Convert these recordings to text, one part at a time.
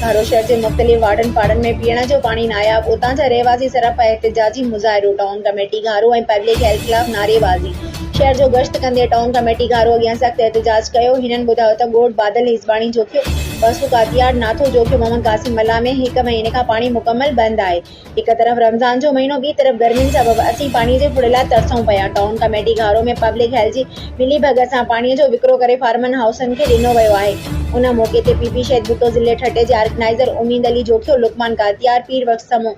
ڌارو شهر جي مختلف واڙن پاڙن ۾ پيئڻ جو پاڻي ناياب، اتان جا رهواسي سرپ ۽ احتجاجي مظاهرو، town committee Gharo ۽ public health خلاف نعريبازي، شهر جو گشت ڪندي ٽائون ڪميٽي گهارو اڳيان سخت احتجاج ڪيو، هنن ٻڌايو ته ڳوٺ بادل هيسباڻي جوکيو، وسو ڪاتياڙ، ناٿو جوکيو، محمد قاسم ملاح ۾ هڪ مهيني کان پاڻي مڪمل بند آهي. هڪ طرف رمضان جو مهينو ٻي طرف گرمين سبب اسين پاڻي جي ڦڙي لاء ترسون پيا، town committee Gharo ۾ public health جي ملي ڀڳت سان پاڻي جو وڪرو ڪري فارمن هائوسن کي ڏنو ويو آهي، ان موقعي تي پي پي شهيد ڀٽو ضلعي ٺٽي جي آرگنائيزر اميد علي جوکيو، لقمان ڪاتيار، پير بخش سمون،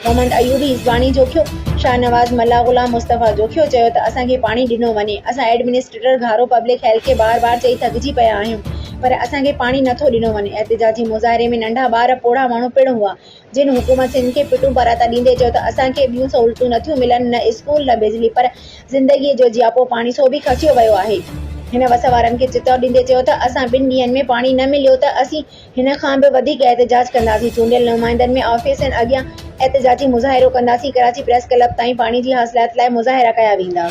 محمد ايوبي عيسواڻي جوکيو، شاهنواز ملاح، غلام مصطفيٰ جوکيو چيو ته اسان کي پاڻي ڏنو وڃي، اسان ايڊمنسٽريٽر گهارو پبلڪ هيلٿ کي بار بار چئي ٿڪجي پيا آهيون پر اسان کي پاڻي نٿو ڏنو وڃي، احتجاجي مظاهري ۾ ننڍا ٻار پوڙها ماڻهو پڻ هئا، جن حڪومت سنڌ کي پٽون پراتا ڏيندي چيو ته اسان کي ٻيون سهولتون نٿيون ملن، نه اسڪول نه بجلي پر زندگيء جو جياپو پاڻي سو به کسيو ويو آهي. هن وس وارن کي چتاء ڏيندي چيو ته اسان ٻن ڏينهن ۾ پاڻي نه مليو ته اسين هن کان به وڌيڪ احتجاج ڪنداسين، چونڊيل نمائندن ۾ آفيسن اڳيان احتجاجي مظاهرو ڪنداسين، ڪراچي پريس ڪلب تائين پاڻي جي حاصلات لاء مظاهرا ڪيا ويندا.